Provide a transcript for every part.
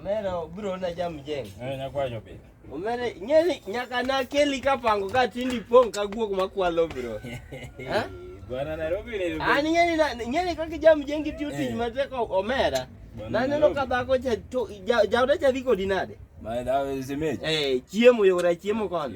Omera obiro na jam jeng. Eh nyakwayo be. Omera nyeli nyaka na keli ka pango ka tindi pong ka guok makwalo bro. Ha? Bwana Nairobi ni. Ani nyeli na nyeli ka kijam jeng kitiyo tich eh. matek omera. Na neno ka dhako cha to jaoda cha viko dinade. Ma dhawo zimeje. Eh chiemo yora chiemo kono.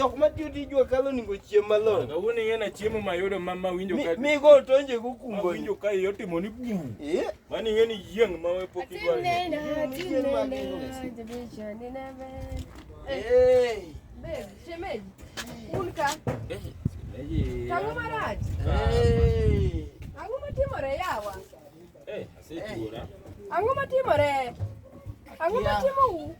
jok matiyo tij wakalo onego chiem malong'o. Kawuono ing'e na chiemo mayudo ma ma winjo ka mi go tonje go kumbo. Winjo ka iyo timo ni bu. Eh? Mani ing'e ni yieng ma we pok idwaro. Eh. Babe, shemeji. Un ka. Eh, shemeji. Tangu maraj. Eh. Tangu matimore yawa. Eh, asetuora. Ang'o matimore? Ang'o matimo u?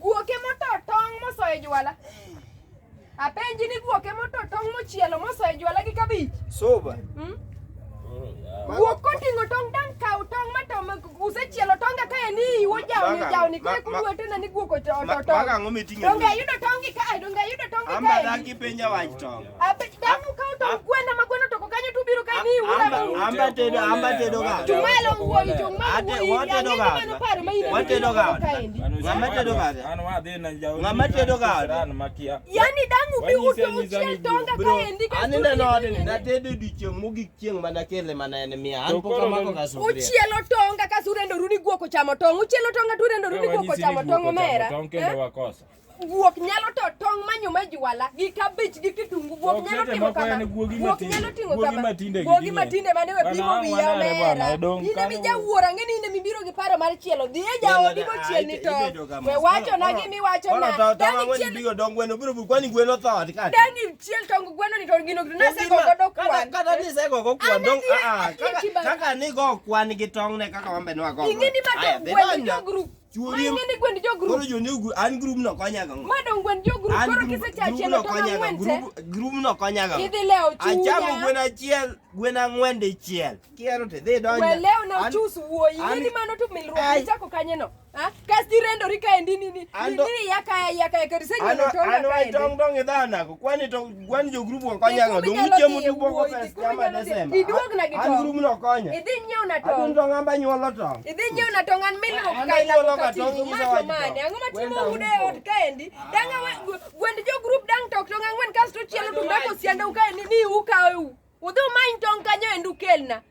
Guoke moto tong' mosoyo jwala. Apenji ni guoke moto tong' mochielo mosoyo jwala gi kabich. Soba. Hmm? Guok koting'o tong' dang' kaw tong' ma to usechielo tong' ka en iyi wojawni jawni kwe kudwete na ni guok oto tong'. Donge ayudo tong' gi kae, donge ayudo tong' gi kae. Amba dagi penja wach tong'. yani dangu bi uchiel tonga kaendi aninde node ni natedo odiechieng' mogik chieng' mana kele mana en mia an pok amako kasuria uchielo tonga kasuria ndo rudi guoko chamo tong' uchielo tonga ture ndo rudi guoko chamo tong' omera guok nyalo to tong' manyo ma jwala gi kabich gi kitungu guok nyalo timo kama guok nyalo timo kama guogi matinde mane we pimo wiya omera ine mi jawuoro ang'e ni ine mibiro gi paro mar chielo dhi e jaodi mochiel ni to we wacho na gi miwacho na dani chiel bigo dong gweno biro bu kwani gweno tho ka dani chiel tong gweno ni to gino gino nase go godo kwan kata ni se go go kwan dong a a kaka ni go kwan gi tong ne kaka wambe no go ing'e ni ma to gweno group Chuori. Mang'e ni gwend jo group. Koro jo new group, an group no konya gang'o? Ma dong gwend jo group An koro group- kisechachielo group no tong' konya ang'wen gang'o? te. Group- Group no konya gang'o? Idhi lewo chunya. Achamo gwen achiel, gwen ang'wen dichiel. Kiero to idhi donjo. Weleo na An- uchus wuoyi. an- Nini mano to milruok Ai. ichako kanye no? Ha? Kas tirendori kaendi nini? Ando- Nini yaka yaka yaka An- risenyuolo tong' an kaendi. waitong' dong' idhanago. Kwani to Gwen jo grup wa konya ga dong uche mu tu boko pes kama desema. Iduog na gitong. An grup no konya. Idhi nyiew na tong. Adun tong amba nyuolo tong. Idhi nyiew na tong an mil ok kai la ko kati. Ma to mane ango ma timo ude od kaendi. Danga gwend jo grup dang tok tong angwen kasto chielo tumbe ko sianda ukaendi ni ukawe u. Udhi umany tong kanyo endu kelna.